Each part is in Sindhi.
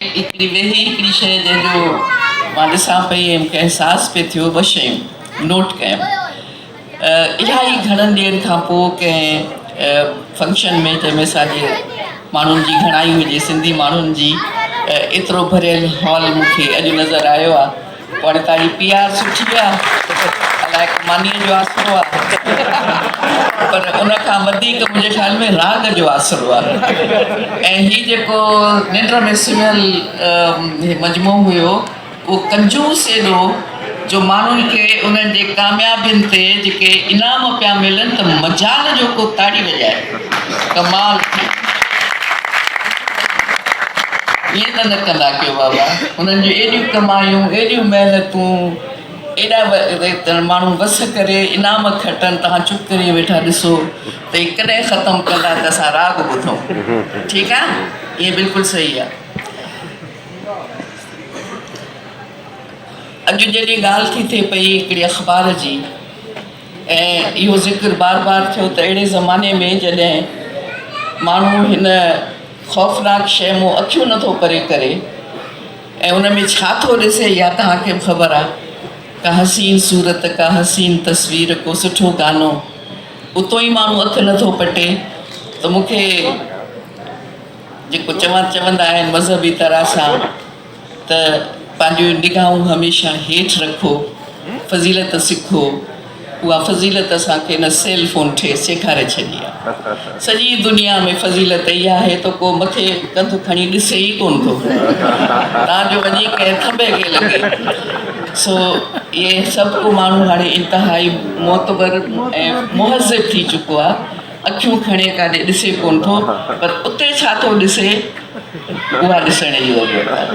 ايتري ويهي هڪڙي شيء جنهن جو مان ڏسان پئي ۽ مونکي احساس پئي ٿيو ٻه شيون نوٽ ڪيم اها ئي گهڻن ڏينهن کان پوء ڪنهن فنڪشن ۾ جنهن ۾ اسانجي ماڻهن جي گهڻائي هجي سنڌي ماڻهن جي ايترو ڀريل هال مونکي اڄ نظر آيو آهي وڙ ته هي پي آر سٺي آ الائي مانيء جو آسرو آ پر ان کان وڌيڪ منهنجي خيال ۾ راڳ جو آسرو آ ۽ هي جيڪو ننڊ ۾ سمهيل مجموعو هيو اهو ڪنجوس ايڏو جو ماڻهن کي انهن جي ڪاميابين تي جيڪي انعام پيا ملن ته مجال جو ڪو تاڙي وڄائي ڪمال ٿي ويو ائين ته نه ڪندا ڪيو بابا انهن جون ايڏيون ڪمايون ايڏيون محنتون ايڏا ماڻهو وس ڪري انعام کٽن توهان چپ ڪري ويٺا ڏسو ته هي ڪڏهن ختم ڪندا ته اسان راڳ ٻڌو ٺيڪ آهي اهي بلڪل صحيح آهي اڄ جڏهن ڳالهه ٿي ٿئي پئي هڪڙي اخبار جي ۽ اهو ذڪر بار بار ٿيو ته اهڙي زماني ۾ جڏهن ماڻهو هن خوفناڪ شيء مون اکيون نٿو پري ڪري ۽ ان ۾ ڇا ٿو ڏسي يا توهان کي به خبر آ ڪا حسين صورت ڪا حسين تصوير ڪو سٺو گانو اتو ئي ماڻهو اک نٿو پٽي ته مون کي جيڪو چوان چوندا آهن مذهبي طرح سان ته پنهنجون نگاهون هميشه هيٺ رکو، فضيلت سکو، اها فضيلت اسان کي هن سيل فون ٺيس سيکاري ڇڏي آهي. سڄي دنيا ۾ فضيلت اها آهي ته ڪو مٿي ڪنڌ کڻي ڏسي ئي ڪونه ٿو تان جو وڃي ڪنهن ٿنڀي کي لڳي. سو اهي سڀ ڪو ماڻهو هاڻي انتهائي معتبر ۽ مهذب ٿي چڪو آهي. اکيون کڻي ڪاڏي ڏسي ڪونه ٿو پر اتي ڇا ٿو ڏسي اها ڏسڻ جي ضرورت آهي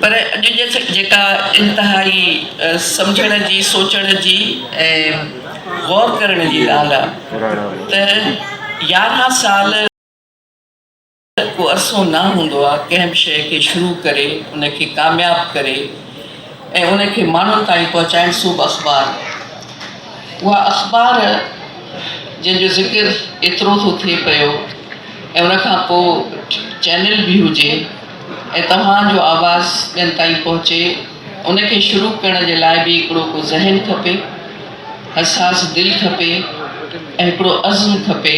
پر اڄ جيڪا انتهائي سمجهڻ جي سوچڻ جي ۽ غور ڪرڻ جي ڳالهه آهي ته يارهن سال ته ڪو عرصو نه هوندو آ ڪنهن به شيء کي شروع ڪري ان کي ڪامياب ڪري ۽ ان کي ماڻهن تائين پهچائڻ سوڀ اخبار اها اخبار جنهن جو ذڪر ايترو ٿو ٿئي پيو ۽ ان کان پو چينل به هجي ۽ توهان جو آواز ٻين تائين پهچي ان کي شروع ڪرڻ جي لاء به هڪڙو ڪو ذهن کپي حساس دل کپي ۽ هڪڙو عزم کپي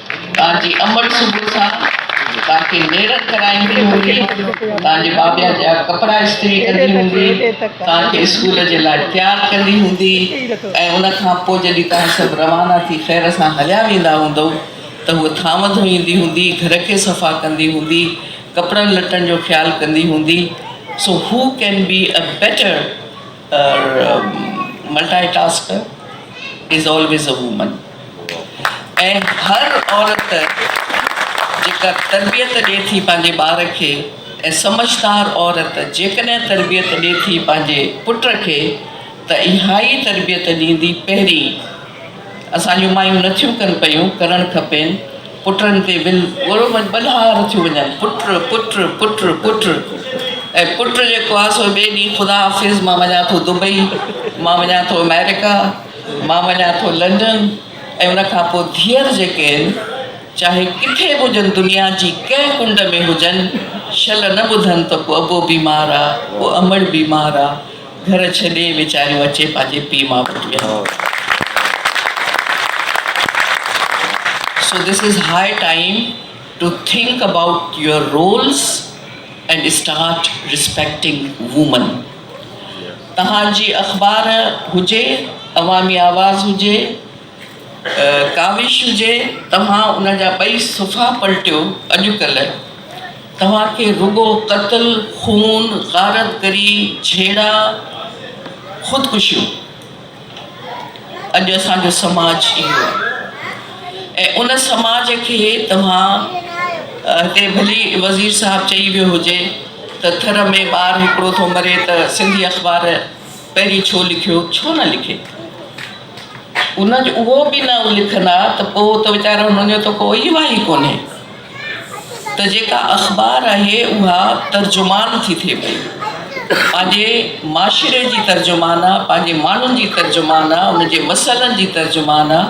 تان جي امڙ صبح سان تان کي نيرڪ ڪرائيندي هوندي، تان جي بابيا جا ڪپڙا استري ڪندي هوندي، تان کي اسڪول جي لاء تيار ڪندي هوندي ۽ ان کان پوء جڏهن توهان سڀ روانا ٿي خير سان هليا ويندا هوندؤ ته هوء ٿانو ڌوئيندي هوندي، گهر کي صفا ڪندي هوندي، ڪپڙن لٽن جو خيال ڪندي هوندي، so he can be a better. پر multi ٽاسڪر is always a woman ۽ هر عورت جيڪا تربيت ڏي ٿي پنهنجي ٻار کي ۽ سمجهدار عورت جيڪڏهن تربيت ڏي ٿي پنهنجي پٽ کي ته اها ئي تربيت ڏيندي پهرين اسان جون مايون نٿيون ڪن پيون ڪرڻ کپين پٽن تي ول ڳوڙهو ۾ ٻڏهار ٿيون وڃن، پٽ، پٽ، پٽ، پٽ ۽ پٽ جيڪو آهي سو ٻئي ڏينهن خدا حافظ مان وڃان ٿو دبئي، مان وڃان ٿو آمريڪا، مان وڃان ٿو لنڊن ۽ ان کان پوء ڌيئر جيڪي آهن چاهي ڪٿي به هجن دنيا جي ڪنهن ڪنڊ ۾ هجن شل نه ٻڌن ته ڪو ابو بيمار آ، ڪو امڙ بيمار آ. گهر ڇڏي ويچاريون اچي پنهنجي پيء ماء وٽ ويهن. So this is high time to think about your rules and start respecting women. توهان جي اخبار هجي، عوامي آواز هجي، ڪاوش هجي، توهان ان جا ٻئي صفحا پلٽيو، اڄڪلهه توهان کي رڳو قتل، خون، غارت گري، جهيڙا، خودڪشيون. اڄ اسان جو سماج اهو آهي ۽ ان سماج کي توهان هتي ڀلي وزير صاحب چئي ويو هجي ته ٿر ۾ ٻار هڪڙو ٿو مري ته سنڌي اخبار پهرين ڇو لکيو ڇو نه لکي ان جو اهو به نه لکندا ته پوء ته ويچارا هنن جو ته ڪوئي واهي ئي ڪونهي ته جيڪا اخبار آهي اها ترجمان ٿي ٿئي پئي پنهنجي معاشري جي ترجمان آ پنهنجي ماڻهن جي ترجمان آ ان جي مسئلن جي ترجمان آ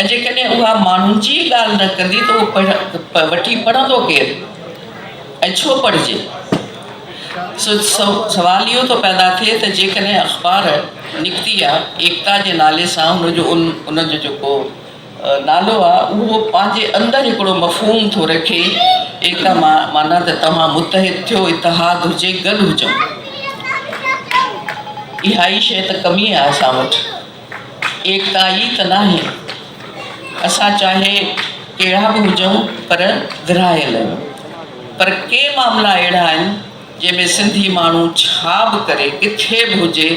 ۽ جيڪڏهن اها ماڻهن جي ڳالهه نه ڪندي ته اهو پڙهه وٺي پڙهندو ڪير ۽ ڇو پڙهجي سوال اهو ٿو پيدا ٿئي ته جيڪڏهن اخبار نڪتي آ ايڪتا جي نالي سان ان جو ان جو جيڪو نالو آ اهو پنهنجي اندر هڪڙو مفهوم ٿو رکي ايڪتا معنيٰ ته توهان متحد ٿيو اتحاد هجي گڏ هجون اهائي شيء ته ڪمي آ اسان وٽ ايڪتا ئي ته ناهي، اسان چاهي ڪهڙا به هجون پر ورهايل آهيون. پر ڪي معاملا اهڙا آهن جنهن ۾ سنڌي ماڻهو ڇا به ڪري ڪٿي به هجي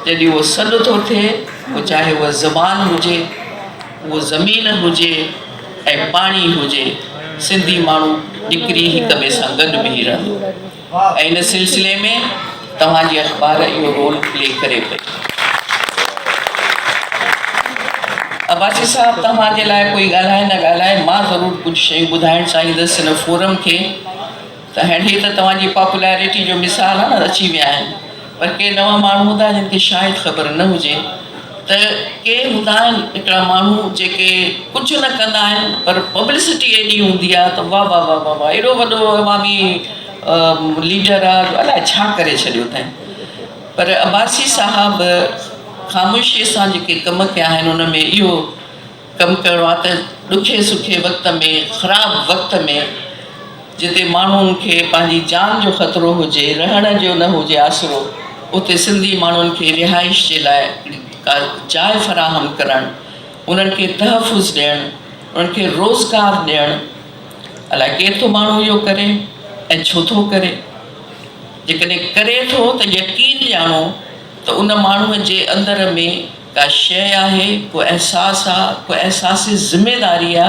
جڏهن اهو سڏ ٿو ٿئي پوء چاهي اها زبان هجي، اهو زمين هجي ۽ پاڻي هجي سنڌي ماڻهو نڪري هڪ ٻئي سان گڏ بيهي رهندو. ۽ ان سلسلي ۾ توهان جي اخبار اهو رول پلي ڪري پئي. عباسي صاحب توهان جي لاء ڪوئي ڳالهائي نه ڳالهائي مان ضرور ڪجهه شيون ٻڌائڻ چاهيندس هن فورم کي ته هينئر هي ته توهان جي پاپولارٽي جو مثال آهن اچي ويا آهن پر ڪي نوان ماڻهو هوندا جن کي شايد خبر نه هجي ته ڪي هوندا آهن هڪڙا ماڻهو جيڪي ڪجهه نه ڪندا آهن پر پبلسٽي ايڏي هوندي آهي ته واه واه واه واه ايڏو وڏو عوامي ليڊر آهي جو الائي ڇا ڪري ڇڏيو اٿائين پر عباسي صاحب خاموشي سان جيڪي ڪم ڪيا آهن ان ۾ اهو ڪم ڪرڻو آهي ته ڏکي سکي وقت ۾ خراب وقت ۾ جتي ماڻهن کي پنهنجي جان جو خطرو هجي رهڻ جو نه هجي آسرو اتي سنڌي ماڻهن کي رهائش جي لاء ڪا جاء فراهم ڪرڻ انهن کي تحفظ ڏيڻ انهن کي روزگار ڏيڻ الاء ڪير ٿو ماڻهو اهو ڪري ۽ ڇو ٿو ڪري جيڪڏهن ڪري ٿو ته يقين ڄاڻو ته ان ماڻهو جي اندر ۾ ڪا شيء آهي، ڪو احساس آ، ڪو احساس ذميداري آ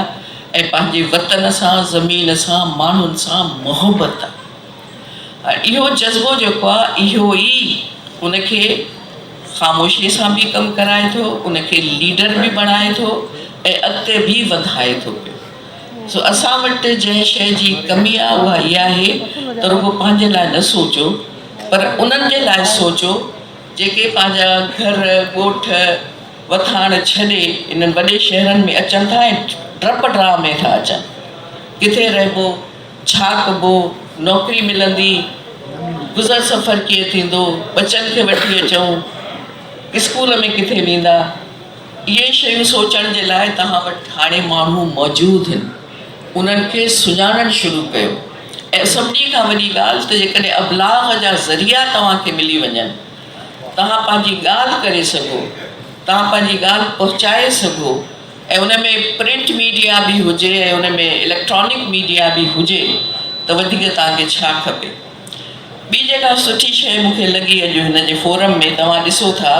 ۽ پنهنجي وطن سان، زمين سان، ماڻهن سان محبت آ. اهو جذبو جيڪو آ، اهو ئي ان کي خاموشيء سان به ڪم ڪرائي ٿو، ان کي ليڊر به بڻائي ٿو ۽ اڳتي به وڌائي ٿو پيو. سو اسان وٽ جنهن شيء جي ڪمي آ، اها اها آهي ته رڳو پنهنجي لاء نه سوچو، پر انهن جي لاء سوچو، جيڪي پنهنجا گهر، ڳوٺ، وٿاڻ ڇڏي انهن وڏي شهرن ۾ اچن ٿا ۽ ڊپ ڊرا ۾ ٿا اچن. ڪٿي رهبو، ڇا ڪبو، نوڪري ملندي، گذر سفر ڪيئن ٿيندو، ٻچن کي وٺي اچون، اسڪول ۾ ڪٿي ويندا. اهي شيون سوچڻ جي لاء توهان وٽ هاڻي ماڻهو موجود هن. انهن کي سڃاڻڻ شروع ڪيو ۽ سڀني کان وڏي ڳالهه ته جيڪڏهن ابلاغ جا ذريعا توهان کي ملي وڃن، توهان پنهنجي ڳالهه ڪري سگهو، توهان پنهنجي ڳالهه پهچائي سگهو ۽ ان ۾ پرنٽ ميڊيا به هجي ۽ ان ۾ اليڪٽرانڪ ميڊيا به هجي ته وڌيڪ توهان کي ڇا کپي. ٻي جيڪا سٺي شيء مون کي لڳي اڄ هن جي فورم ۾ توهان ڏسو ٿا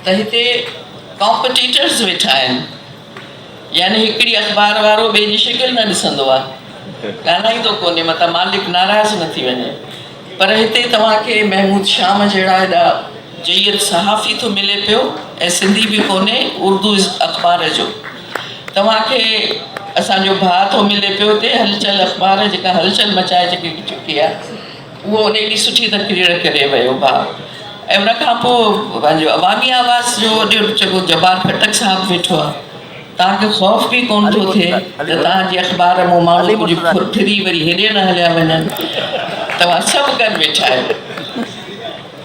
ته هتي ڪامپٽيٽرز ويٺا آهن يعني هڪڙي اخبار وارو ٻئي جي شڪل نه ڏسندو آهي ڳالهائيندو ڪونهي متان مالڪ ناراض نه ٿي وڃي پر هتي توهان کي محمود شام جهڙا ايڏا جيد صحافي ٿو ملي پيو ۽ سنڌي به ڪونهي اردو اخبار جو توهان کي اسان جو ڀاء ٿو ملي پيو اتي هلچل اخبار جيڪا هلچل مچائي چڪي چڪي آهي اهو ان ايڏي سٺي تقرير ڪري ويو ڀاء ۽ ان کان پوء پنهنجو عوامي آواز جو اڏيو چڪو جبار خٽڪ صاحب ويٺو آهي توهان کي خوف به ڪونه ٿو ٿئي ته توهان جي اخبار مون ماڻهو ڪجهه ڦر ڦري وري هيڏي نه هليا وڃن توهان سڀ ڪن ويٺا آهيو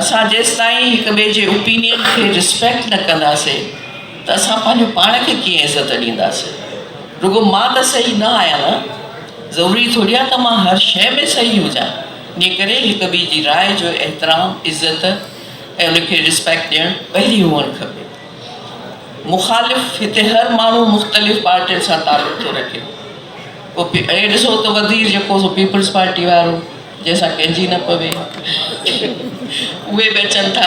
اسان جيستائين هڪ ٻئي جي اوپينين کي رسپيڪٽ نه ڪنداسين ته اسان پنهنجو پاڻ کي ڪيئن عزت ڏينداسين. رڳو مان ته صحيح نه آهيان نه. ضروري ٿوري آهي ته مان هر شيء ۾ صحيح هجان. انهيء ڪري هڪ ٻئي جي راء جو احترام، عزت ۽ ان کي رسپيڪٽ ڏيڻ پهرين هئڻ کپي. مخالف، هتي هر ماڻهو مختلف پارٽين سان تعلق ٿو رکي. پوء اهي ڏسو ته وزير جيڪو سو پيپلز پارٽي وارو. جنهن سان ڪنهنجي نه پوي. اهي به اچن ٿا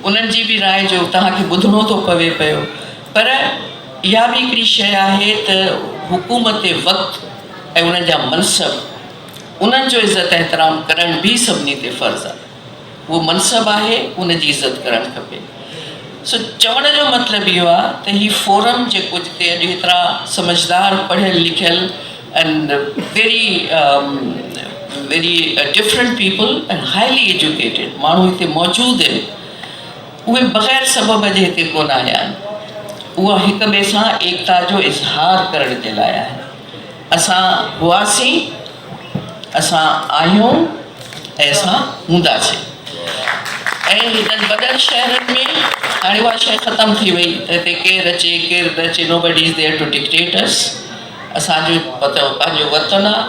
انهن جي به راء جو توهان کي ٻڌڻو ٿو پوي پيو پر اها به هڪڙي شيء آهي ته حڪومت وقت ۽ انهن جا منصب انهن جو عزت احترام ڪرڻ به سڀني تي فرض آهي. اهو منصب آهي ان جي عزت ڪرڻ کپي. سو چوڻ جو مطلب اهو آهي ته هي فورم جيڪو جتي اڄ هيترا سمجهدار پڙهيل لکيل and very very different people and highly educated ماڻهو هتي موجود آهن اهي بغير سبب جي هتي ڪونه آيا آهن اها هڪ ٻئي سان ايڪتا جو اظهار ڪرڻ جي لاء آهي. اسان هئاسين، اسان آهيون ۽ اسان هونداسين. ۽ هنن وڏن شهرن ۾ هاڻي اها شيء ختم ٿي وئي ته هتي ڪير اچي ڪير نه اچي Nobody is there to dictate us اسان جو وطن پنهنجو وطن آهي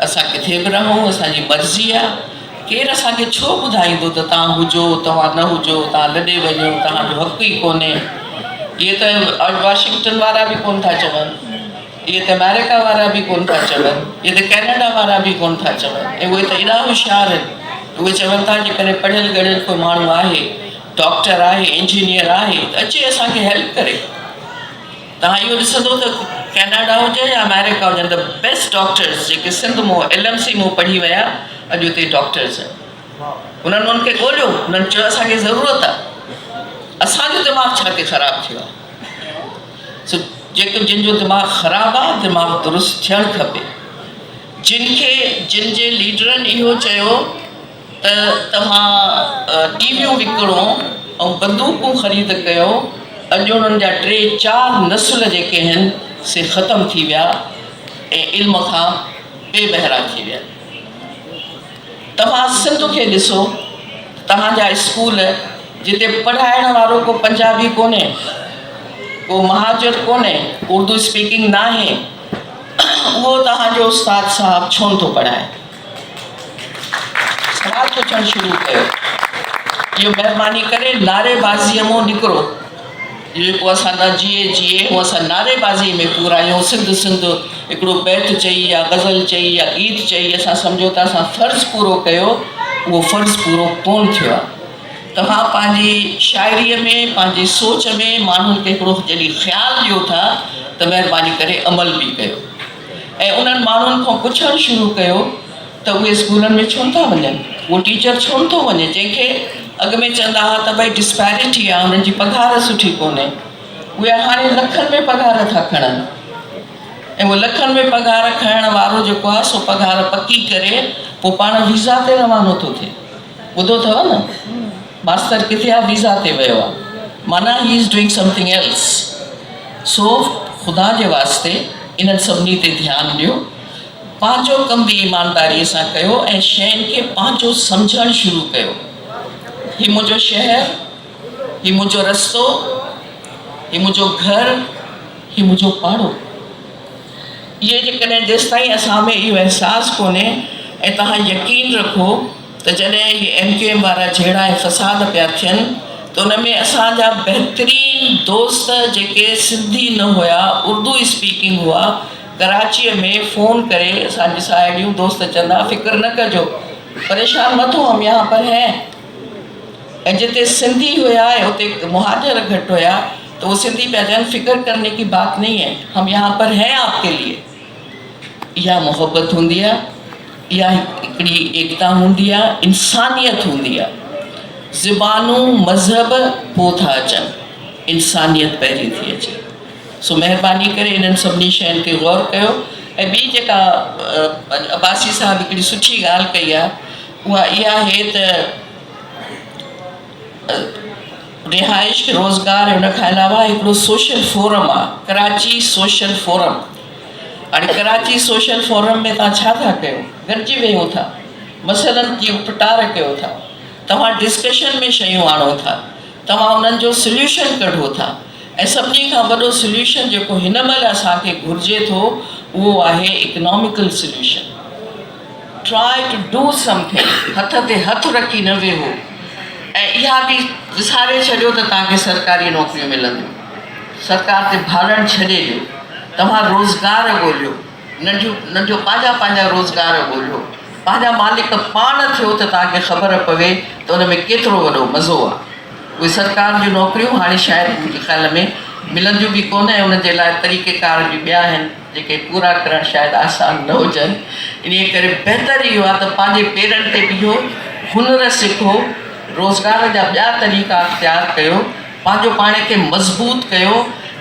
اسان ڪٿي به رهون اسان جي مرضي آهي ڪير اسان کي ڇو ٻڌائيندو ته توهان هجو توهان نه هجو توهان لڏي وڃو توهان جو حق ئي ڪونهي اهي ته Washington وارا به ڪونه ٿا چون. اهي ته آمريڪا وارا به ڪونه ٿا چون، اهي ته ڪئناڊا وارا به ڪونه ٿا چون ۽ اهي ته ايڏا هوشيار آهن، اهي چون ٿا جيڪڏهن پڙهيل ڳڙهيل ڪو ماڻهو آهي، ڊاڪٽر آهي، انجنيئر آهي ته اچي اسان کي هيلپ ڪري. توهان اهو ڏسندو ته ڪئناڊا هجي يا آمريڪا هجن ته بيسٽ ڊاڪٽرز جيڪي سنڌ مون ايل ايم سي مون پڙهي ويا اڄ اتي ڊاڪٽرز آهن. انهن انهن کي ڳوليو، انهن چيو اسان کي ضرورت آهي. اسان جو دماغ ڇا تي خراب ٿيو آهي. سو جيڪو جن جو دماغ خراب آ دماغ درست ٿيڻ کپي جن کي جن جي ليڊرن اهو چيو ته توهان ٽي ويون وڪڻو ۽ بندوقون خريد ڪيو اڄ انهن جا ٽي چار نسل جيڪي هن سي ختم ٿي ويا ۽ علم کان بي بهرا ٿي ويا. توهان سنڌ کي ڏسو توهان جا اسڪول جتي پڙهائڻ وارو ڪو پنجابي ڪونهي ڪو مهاجر ڪونهي اردو اسپيڪنگ ناهي اهو توهان جو استاد صاحب ڇو نٿو پڙهائي سوال پڇڻ شروع ڪيو اهو مهرباني ڪري نعري بازي مون نڪرو جيڪو اسان نه جيئي جيئي هو اسان نعري بازي ۾ پورائيون سنڌ سنڌ هڪڙو بيت چئي يا غزل چئي يا گيت چئي اسان سمجهو ته اسان فرض پورو ڪيو اهو فرض پورو ڪون ٿيو آهي توهان پنهنجي شاعري ۾ پنهنجي سوچ ۾ ماڻهن کي هڪڙو جڏهن خيال ڏيو ٿا ته مهرباني ڪري عمل به ڪيو ۽ انهن ماڻهن کان پڇڻ شروع ڪيو ته اهي اسڪولن ۾ ڇو نٿا وڃن، اهو ٽيچر ڇو نٿو وڃي جنهن کي اڳ ۾ چوندا هئا ته ڀئي ڊسپيرٽي آهي انهن جي پگهار سٺي ڪونهي اهي هاڻي لکن ۾ پگهار ٿا کڻن ۽ اهو لکن ۾ پگهار کڻڻ وارو جيڪو آهي سو پگهار پڪي ڪري پوء پاڻ ويزا تي روانو ٿو ٿئي ٻڌو اٿو نه ماستر ڪٿي آهي ويزا تي ويو آهي معنيٰ هي is doing something else so خدا جي واسطي انهن سڀني تي ڌيان ڏيو پنهنجو ڪم به ايمانداريء سان ڪيو ۽ شين کي پنهنجو سمجهڻ شروع ڪيو. هي منهنجو شهر، هي منهنجو رستو، هي منهنجو گهر، هي منهنجو پاڙو. اهي جيڪڏهن جيستائين اسان ۾ اهو احساس ڪونهي ۽ توهان يقين رکو ته جڏهن اهي ايم ڪيو ايم وارا جهيڙا ۽ فساد پيا ٿين ته ان ۾ اسان جا بهترين دوست جيڪي سنڌي نه هيا اردو اسپيڪنگ هئا ڪراچيء ۾ فون ڪري اسان جي ساهيڙيون دوست چون ها فڪر نه ڪجو پريشان مت هو هم يهان پر هين ۽ جتي سنڌي هيا ۽ اتي مهاجر گهٽ هيا ته هو سنڌي پيا چون فڪر ڪرني ڪي بات نهي هين هم يهان پر هين آپ ڪي ليئي اها محبت هوندي آهي اها هڪڙي ايڪتا هوندي آهي انسانيت هوندي آهي زبانون مذهب پوء ٿا اچن انسانيت پهرين ٿي اچي سو مهرباني ڪري انهن سڀني شين تي غور ڪيو ۽ ٻي جيڪا عباسي صاحب هڪڙي سٺي ڳالهه ڪئي آهي اها اها آهي ته رهائش روزگار ان کان علاوه هڪڙو سوشل فورم آهي ڪراچي سوشل فورم هاڻي ڪراچي سوشل فورم ۾ تان ڇا ٿا ڪيو گڏجي ويهو ٿا مسئلن جي اپٽار ڪيو ٿا توهان ڊسڪشن ۾ شيون آڻو ٿا توهان انهن جو سليوشن ڪڍو ٿا ۽ سڀني کان وڏو سليوشن جيڪو هن مهل اسان کي گهرجي ٿو اهو آهي economical solution. Try to do something هٿ تي هٿ رکي نه ويهو ۽ اها به وساري ڇڏيو ته توهان کي سرڪاري نوڪريون ملنديون. سرڪار تي ڀاڙڻ ڇڏي ڏيو. توهان روزگار ڳوليو. ننڍيون ننڍيون پنهنجا پنهنجا روزگار ڳوليو پنهنجا مالڪ پاڻ ٿيو ته توهان کي خبر پوي ته ان ۾ ڪيترو وڏو مزو آ اهي سرڪار جون نوڪريون هاڻي شايد منهنجي خيال ۾ ملنديون به ڪونه ۽ ان جي لاء طريقي ڪار به ٻيا آهن جيڪي پورا ڪرڻ شايد آسان نه هجن انهي ڪري بهتر اهو آ ته پنهنجي پيرن تي بيهو هنر سکو روزگار جا ٻيا طريقا اختيار ڪيو پنهنجو پاڻ کي مضبوط ڪيو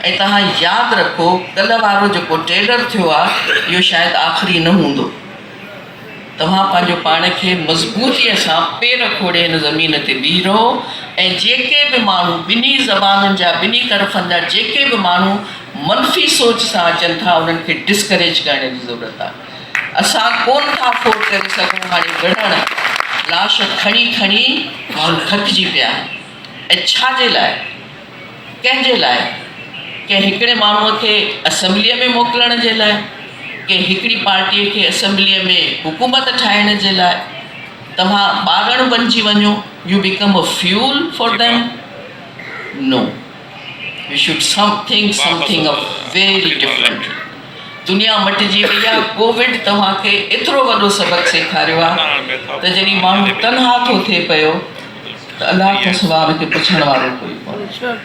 ۽ توهان ياد رکو ڪلهه وارو جيڪو ٽيلر ٿيو آ اهو شايد آخري نه هوندو توهان پنهنجو پاڻ کي مضبوطي سان پير کوڙي هن زمين تي بيهي رهو ۽ جيڪي به ماڻهو ٻنهي زبانن جا ٻنهي طرفن جا جيڪي به ماڻهو منفي سوچ سان اچن ٿا انهن کي ڊسڪريج ڪرڻ جي ضرورت آ اسان ڪون ٿا افورڊ ڪري سگهون هاڻي وڙهڻ لاش کڻي کڻي ماڻهو ٿڪجي پيا. ۽ ڇا جي لاء؟ ڪنهن جي لاء؟ ڪنهن هڪڙي ماڻهوء کي اسيمبليء ۾ موڪلڻ جي لاء؟ ڪنهن هڪڙي پارٽيء کي اسيمبليء ۾ حڪومت ٺاهڻ جي لاء؟ توهان ٻارڻ بنجي وڃو، you become a fuel for them? No. We should something something of very different دنيا مٽجي وئي آ ڪووڊ توهان کي ايترو وڏو سبق سيکاريو آ ته جڏهن ماڻهو تنها ٿو ٿئي پيو ته الله کان سواء ان کي پڇڻ وارو ڪوئي ڪونهي